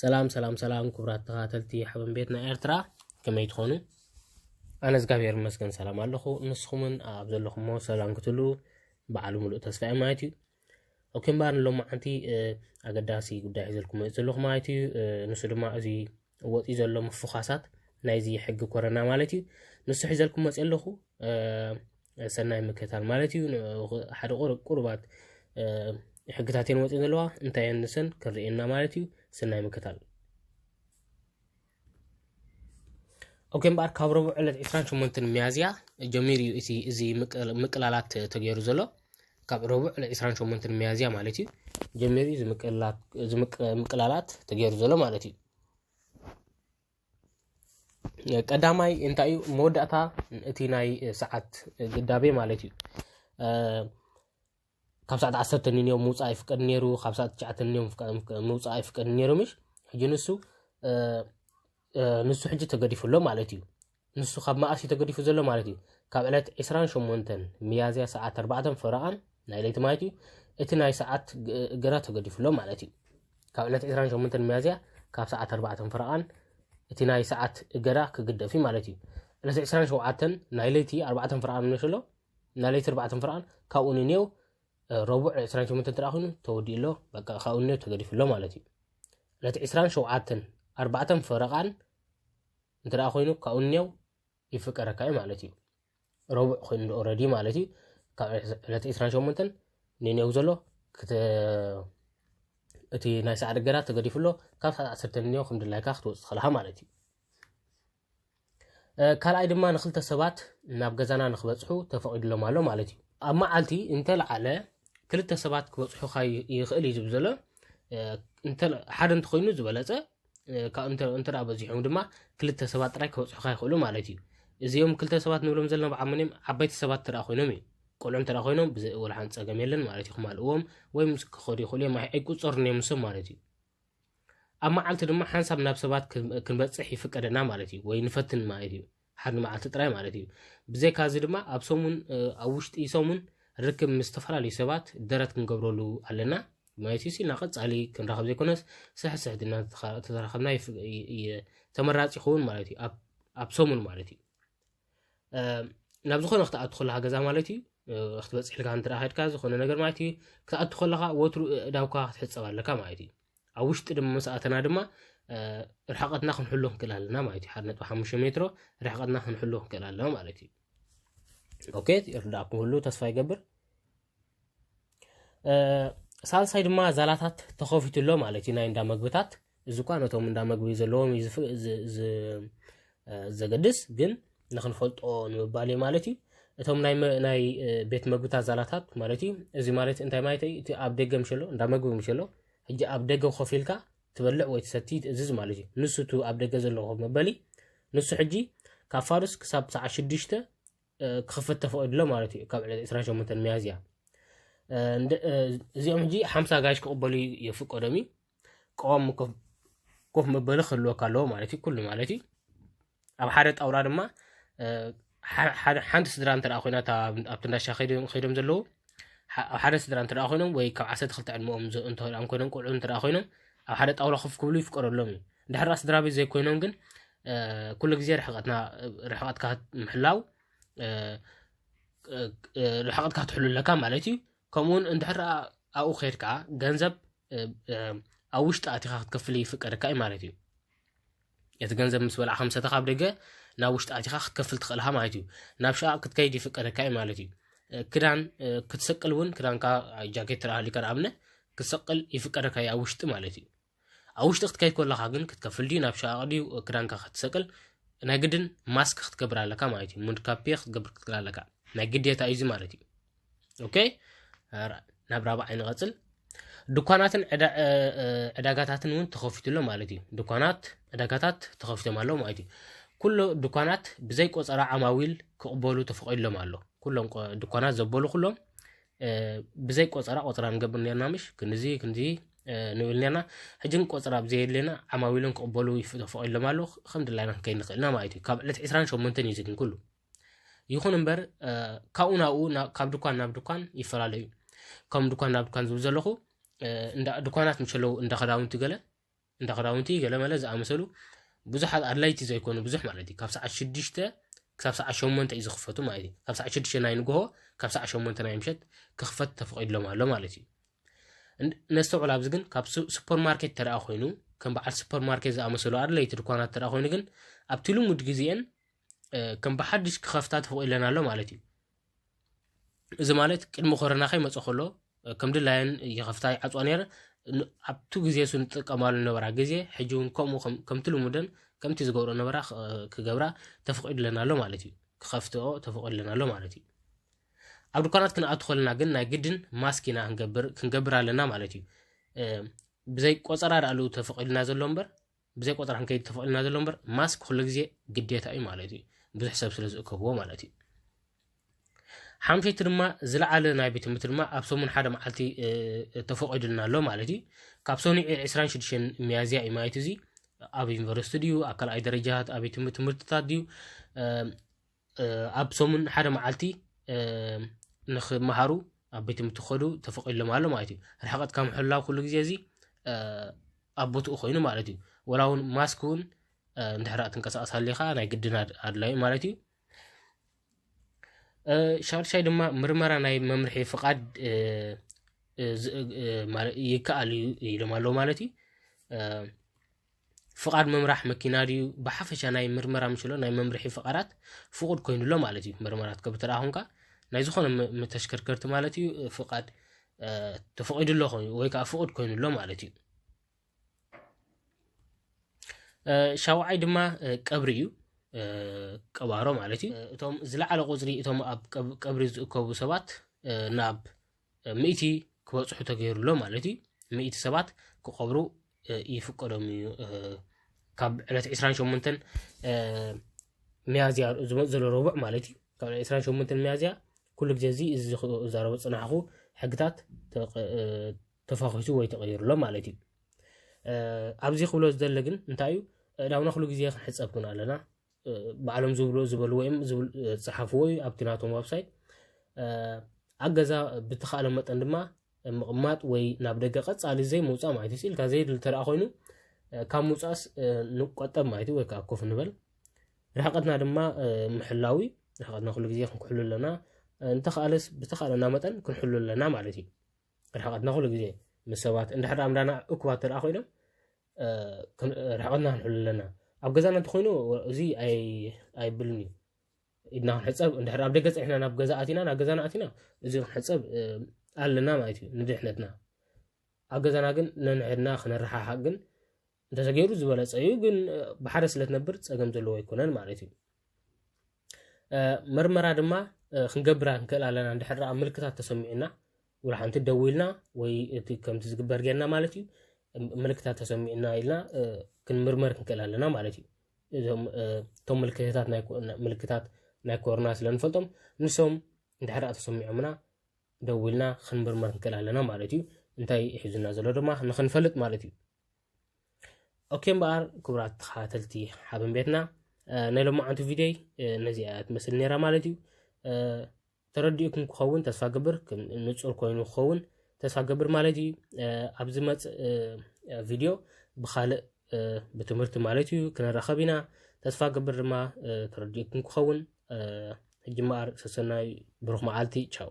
ሰላም ሰላም ሰላም ክቡራት ተኸታተልቲ ሓበን ቤት ናይ ኤርትራ ከመይ ትኾኑ ኣነ እግዚኣብሔር ይመስገን ሰላም ኣለኹ ንስኹምን ኣብ ዘለኹሞ ሰላም ክትሉ በዓሉ ምሉእ ተስፋ እየ ማለት እዩ ኦኬ እምበር ንሎማዓንቲ ኣገዳሲ ጉዳይ ሒዘልኩም መፅእ ዘለኹ ማለት እዩ ንሱ ድማ እዚ ወፅዩ ዘሎ ምፍዃሳት ናይዚ ሕጊ ኮረና ማለት እዩ ንሱ ሒዘልኩም መፅ ኣለኹ ሰናይ ምክታል ማለት እዩ ሓደ ቁርባት ሕግታት እየን ወፅን ዘለዋ እንታይ እየን ንሰን ክንርእየና ማለት እዩ ሰናይ ምክታል ኦኬ እምበኣር ካብ ረቡዕ ዕለት 28 ሚያዝያ ጀሚሩ እዩ እቲ እዚ ምቅላላት ተገይሩ ዘሎ ካብ ረቡዕ ለ 28 ሚያዝያ ማለት እዩ ጀሚሩ እዩ ምቅላላት ተገይሩ ዘሎ ማለት እዩ ቀዳማይ እንታይ እዩ መወዳእታ እቲ ናይ ሰዓት ግዳቤ ማለት እዩ ካብ ሰዓት ዓሰርተ ንዮም ምውፃእ ኣይፍቀድ ነይሩ ካብ ሰዓት ትሽዓተ ንዮም ምውፃእ ኣይፍቀድ ነይሩ ምሽ ሕጂ ንሱ ንሱ ሕጂ ተገዲፉ ኣሎ ማለት እዩ። ንሱ ካብ መኣስ እዩ ተገዲፉ ዘሎ ማለት እዩ? ካብ ዕለት 28 ሚያዝያ ሰዓት 4 ፈረቓን ናይ ለይቲ ማለት እዩ እቲ ናይ ሰዓት እገዳ ተገዲፉ ኣሎ ማለት እዩ። ካብ ዕለት 28 ሚያዝያ ካብ ሰዓት 4 ፈረቓን እቲ ናይ ሰዓት እገዳ ክግደፍ እዩ ማለት እዩ። ዕለት 27 ናይ ለይቲ 4 ፈረቓን ንሸሎ ናይ ለይቲ 4 ፈረቓን ካብኡ ንኔው ረቡዕ ዕስራን ሸሞንተን እንተ ኮይኑ ተወዲኡ ኣሎ በቃ ካብኡ እንዮ ተገዲፉ ኣሎ ማለት እዩ ዕለት ዕስራን ሸውዓተን ኣርባዕተን ፈረቓን እንተ ኮይኑ ካብኡ እንየው ይፍቀረካ እዩ ማለት እዩ ረቡዕ ኮይኑ ዶ ኦረዲ ማለት እዩ ካብ ዕለት ዕስራን ሸሞንተን ንኔው ዘሎ እቲ ናይ ሰዓት እገዳ ተገዲፉ ኣሎ ካብ ሰዓት ዓሰርተ እንዮ ከም ድላይካ ክትወፅእ ትኽእልካ ማለት እዩ ካልኣይ ድማ ንክልተ ሰባት ናብ ገዛና ንክበፅሑ ተፈቒድሎም ኣሎ ማለት እዩ ኣብ መዓልቲ እንተለዓለ ክልተ ሰባት ክበፅሑካ ይኽእል እዩ ዝብ ዘሎ ሓደ እንተኮይኑ ዝበለፀ እንተ በዚሖም ድማ ክልተ ሰባት ጥራይ ክበፅሑካ ይኽእሉ ማለት እዩ እዚኦም ክልተ ሰባት ንብሎም ዘለና ብዓመኒም ዓበይቲ ሰባት እንተ ኮይኖም እዩ ቆልዑ እንተ ኮይኖም ብዘይ ወላሓን ፀገም የለን ማለት እዩ ክማልእዎም ወይም ክኸዱ ይኽእሉ እዮም ኣይቁፀሩን እዮም ንሶም ማለት እዩ ኣብ መዓልቲ ድማ ሓንሳብ ናብ ሰባት ክንበፅሕ ይፍቀደና ማለት እዩ ወይ ንፈትን ማለት እዩ ሓደ መዓልቲ ጥራይ ማለት እዩ ብዘይካ እዚ ድማ ኣብ ሰሙን ኣብ ውሽጢ ሰሙን ርክብ ምስ ዝተፈላለዩ ሰባት ደረት ክንገብረሉ ኣለና ማለት እዩ ሲና ቀፃሊ ክንራኸብ ዘይኮነስ ስሕስሕ ድና ተራኸብና ተመራፂ ይኸውን ማለት እዩ ኣብ ሰሙን ማለት እዩ ናብ ዝኾነ ክትኣቱ ከለካ ገዛ ማለት እዩ ክትበፅሕ ኢልካ እንተ ከድካ ዝኾነ ነገር ማለት እዩ ክትኣቱ ከለካ ወትሩ እዳውካ ክትሕፀብ ኣለካ ማለት እዩ ኣብ ውሽጢ ድማ ምስ ኣተና ድማ ርሕቀትና ክንሕሎ ክንክእል ኣለና ማለት እዩ ሓደ ነጥቢ ሓሙሽተ ሜትሮ ርሕቀትና ክንሕሎ ክንክእል ኣለና ማለት እዩ ኦኬ ይርዳእኩም ክህሉ ተስፋ ይገብር ሳልሳይ ድማ ዛላታት ተኸፊቱ ኣሎ ማለት እዩ ናይ እንዳ መግብታት እዚ እኳ ነቶም እንዳ መግቢ ዘለዎም እዩ ዘገድስ ግን ንክንፈልጦ ንምባል እዩ ማለት እዩ እቶም ናይ ቤት መግብታት ዛላታት ማለት እዩ እዚ ማለት እንታይ ማለት እዩ እቲ ኣብ ደገ ምሸሎ እንዳ መግቢ ምሸሎ ሕጂ ኣብ ደገ ኮፍ ኢልካ ትበልዕ ወይ ትሰቲ ትእዝዝ ማለት እዩ ንሱ እቲ ኣብ ደገ ዘሎ ኮፍ መበሊ ንሱ ሕጂ ካብ ፋርስ ክሳብ ሰዓት ሽዱሽተ ክኽፈት ተፈቒዱ ኣሎ ማለት እዩ ካብ ዕለት 28 ሚያዝያ እዚኦም ሕጂ ሓምሳ ጋሽ ክቕበሉ የፍቀዶም እዩ ቀዋሚ ኮፍ መበሊ ክህልወካ ኣለዎ ማለት እዩ ኩሉ ማለት እዩ ኣብ ሓደ ጣውላ ድማ ሓንቲ ስድራ እንተ ኮይና ኣብቲ እንዳሻ ከይዶም ዘለዉ ኣብ ሓደ ስድራ እንተ ኮይኖም ወይ ካብ ዓሰርተ ክልተ ዕድመኦም እንተ ኮይኖም ቆልዑ እንተ ኮይኖም ኣብ ሓደ ጣውላ ኮፍ ክብሉ ይፍቀደሎም እዩ እንድሕር ደኣ ስድራ ቤት ዘይኮይኖም ግን ኩሉ ግዜ ርሕቐትና ርሕቐትካ ምሕላው ርሕቐትካ ትሕሉ ኣለካ ማለት እዩ ከምኡ እውን እንድሕር ኣብኡ ከይድካ ገንዘብ ኣብ ውሽጢ ኣቲኻ ክትከፍል ይፍቀደካ እዩ ማለት እዩ እቲ ገንዘብ ምስ በላዕካ ምሰተ ካብ ደገ ናብ ውሽጢ ኣቲኻ ክትከፍል ትኽእልካ ማለት እዩ ናብ ሸቃ ክትከይድ ይፍቀደካ እዩ ማለት እዩ ክዳን ክትሰቅል እውን ክዳንካ ጃኬት ትረኣሃሊካ ንኣብነት ክትሰቅል ይፍቀደካ እዩ ኣብ ውሽጢ ማለት እዩ ኣብ ውሽጢ ክትከይ ኮለኻ ግን ክትከፍል ድዩ ናብ ሸቓቕ ድዩ ክዳንካ ክትሰቅል ናይ ግድን ማስክ ክትገብር ኣለካ ማለት እዩ ሙንድካፔ ክትገብር ክትክል ኣለካ ናይ ግዴታ እዩ እዚ ማለት እዩ ኦኬ ናብ ራብዓይ ንቐፅል ድኳናትን ዕዳጋታትን እውን ተኸፊቱ ኣሎ ማለት እዩ ድኳናት ዕዳጋታት ተኸፊቶም ኣለዉ ማለት እዩ ኩሎ ድኳናት ብዘይ ቆፀራ ዓማዊል ክቕበሉ ተፈቒድሎም ኣሎ ኩሎም ድኳናት ዘበሉ ኩሎም ብዘይ ቆጸራ ቆጸራ ንገብር ነርና ምሽ ክንዚ ክንዚ ንብል ነርና ሕጂ ግን ቆጸራ ኣብ ዘየድልየና ዓማዊሎም ክቕበሉ ተፈቒድሎም ኣሎ ከም ድላይና ክንከይድ ንኽእል ኢና ማለት እዩ ካብ ዕለት 28 እዩ ዝግን ኩሉ ይኹን እምበር ካብኡ ናብኡ ካብ ድኳን ናብ ድኳን ይፈላለዩ ከም ድኳን ናብ ድኳን ዝብል ዘለኹ ድኳናት ምስ ኣለዉ እንዳ ክዳውንቲ ገለ እንዳ ክዳውንቲ ገለመለ ዝኣመሰሉ ብዙሓት ኣድላይቲ ዘይኮኑ ብዙሕ ማለት እዩ ካብ ሰዓት ሽዱሽተ ክሳብ ሰዓት ሸሞንተ እዩ ዝኽፈቱ ማለት እዩ ካብ ሰዓት ሽዱሽተ ናይ ንግሆ ካብ ሰዓት ሸሞንተ ናይ ምሸት ክኽፈት ተፈቒድሎም ኣሎ ማለት እዩ ነስተውዕል ኣብዚ ግን ካብ ሱፐር ማርኬት ተደኣ ኮይኑ ከም በዓል ሱፐር ማርኬት ዝኣመሰሉ ኣድለይቲ ድኳናት ተደኣ ኮይኑ ግን ኣብቲ ልሙድ ግዜአን ከም ብሓድሽ ክኸፍታ ተፈቒድለን ኣሎ ማለት እዩ እዚ ማለት ቅድሚ ኮረና ከይመፀ ከሎ ከም ድላየን ይኸፍታ ይዓፅዋ ነረ ኣብቲ ግዜ ሱ ንጥቀማሉ ነበራ ግዜ ሕጂ እውን ከምኡ ከምቲ ልሙደን ከምቲ ዝገብሮ ነበራ ክገብራ ተፈቂድለን ኣሎ ማለት እዩ ክኸፍትኦ ተፈቂድለን ኣሎ ማለት እዩ ኣብ ድኳናት ክንኣቱ ከለና ግን ናይ ግድን ማስክ ኢና ክንገብር ኣለና ማለት እዩ ብዘይ ቆፀራ ዳኣሉ ተፈቂድና ዘሎ እምበር ብዘይ ቆፀራ ክንከይድ ተፈቕድና ዘሎ እምበር ማስክ ኩሉ ግዜ ግዴታ እዩ ማለት እዩ ብዙሕ ሰብ ስለ ዝእከብዎ ማለት እዩ ሓምሸይቲ ድማ ዝለዓለ ናይ ቤት ትምህርቲ ድማ ኣብ ሰሙን ሓደ መዓልቲ ተፈቂዱልና ኣሎ ማለት እዩ ካብ ሰኑዕ 26 ሚያዝያ እዩ ማለት እዚ ኣብ ዩኒቨርሲቲ ድዩ ኣብ ካልኣይ ደረጃ ኣብ ቤት ትምህርትታት ድዩ ኣብ ሰሙን ሓደ መዓልቲ ንክመሃሩ ኣብ ቤት ትምህርቲ ክኸዱ ተፈቒድሎም ኣሎ ማለት እዩ ርሕቐት ካብ ምሕላው ኩሉ ግዜ እዚ ኣብ ቦትኡ ኮይኑ ማለት እዩ ወላ እውን ማስክ እውን እንድሕር ትንቀሳቐስ ሃሊኻ ናይ ግድን ኣድላዩ ማለት እዩ ሻድሻይ ድማ ምርመራ ናይ መምርሒ ፍቓድ ይከኣል እዩ ኢሎም ኣለዉ ማለት እዩ ፍቓድ ምምራሕ መኪና ድዩ ብሓፈሻ ናይ ምርመራ ምሽሎ ናይ መምርሒ ፍቓራት ፍቑድ ኮይኑሎ ማለት እዩ ምርመራት ከብ ተደኣኹንካ ናይ ዝኾነ ተሽከርከርቲ ማለት እዩ ፍቓድ ተፈቒዱሎ ኮይኑ ወይ ከዓ ፍቑድ ኮይኑሎ ማለት እዩ ሻውዓይ ድማ ቀብሪ እዩ ቀባሮ ማለት እዩ እቶም ዝለዓለ ቁፅሪ እቶም ኣብ ቀብሪ ዝእከቡ ሰባት ናብ ምእቲ ክበፅሑ ተገይሩሎ ማለት እዩ ምእቲ ሰባት ክቐብሩ ይፍቀዶም እዩ ካብ ዕለት 28 ሚያዝያ ዝመፅ ዘሎ ረቡዕ ማለት እዩ ካብ 28 ሚያዝያ ኩሉ ግዜ እዚ እዚ ዝዛረቦ ፅናሕኹ ሕግታት ተፋኺሱ ወይ ተቐይሩሎ ማለት እዩ ኣብዚ ክብሎ ዝደለ ግን እንታይ እዩ እዳውና ኩሉ ግዜ ክንሕፀብ ኩን ኣለና ባዕሎም ዝብሉ ዝበልዎ እዮም ዝፅሓፍዎ እዩ ኣብቲ ናቶም ዋብሳይት ኣብ ገዛ ብትኸኣለ መጠን ድማ ምቕማጥ ወይ ናብ ደገ ቀፃሊ ዘይምውፃእ ማለት እዩ ስኢልካ ዘይድል ተደኣ ኮይኑ ካብ ምውፃእስ ንቆጠብ ማለት እዩ ወይ ከዓ ኮፍ ንበል ርሕቀትና ድማ ምሕላዊ ርሕቀትና ኩሉ ግዜ ክንክሕሉ ኣለና እንተኸኣለስ ብተኸኣለና መጠን ክንሕሉ ኣለና ማለት እዩ ርሕቀትና ኩሉ ግዜ ምስ ሰባት እንድሕር ኣምላና እኩባት ተደኣ ኮይኖም ርሕቐትና ክንሕሉ ኣለና ኣብ ገዛና እንተኮይኑ እዚ ኣይብልን እዩ ኢድና ክንሕፀብ እንድሕር ኣብ ደገ ፀኒሕና ናብ ገዛ ኣቲና ናብ ገዛና ኣቲና እዚ ክንሕፀብ ኣለና ማለት እዩ ንድሕነትና ኣብ ገዛና ግን ነንሕድና ክንረሓሓቅ ግን እንተተገይሩ ዝበለፀ እዩ ግን ብሓደ ስለትነብር ፀገም ዘለዎ ኣይኮነን ማለት እዩ መርመራ ድማ ክንገብራ ንክእል ኣለና እንድሕር ምልክታት ተሰሚዑና ውላ ሓንቲ ደው ኢልና ወይ እቲ ከምቲ ዝግበር ጌርና ማለት እዩ ምልክታት ተሰሚዑና ኢልና ክንምርመር ክንክእል ኣለና ማለት እዩ እዞም እቶም ምልክታት ምልክታት ናይ ኮሮና ስለ ንፈልጦም ንሶም እንድሕር ተሰሚዖምና ደው ኢልና ክንምርመር ክንክእል ኣለና ማለት እዩ እንታይ ሒዙና ዘሎ ድማ ንክንፈልጥ ማለት እዩ ኦኬ እምበኣር ክቡራት ተኸታተልቲ ሓበን ቤትና ናይ ሎማዓንቲ ቪድዮይ ነዚኣ እያ ትመስል ነይራ ማለት እዩ ተረዲኡኩም ክኸውን ተስፋ ገብር ንፁር ኮይኑ ክኸውን ተስፋ ገብር ማለት እዩ ኣብ ዝመፅእ ቪድዮ ብካልእ ብትምህርቲ ማለት እዩ ክንራኸብ ኢና ተስፋ ገብር ድማ ተረዲኡኩም ክኸውን ሕጂ እምበኣር ሰሰናይ ብሩኽ መዓልቲ ቻው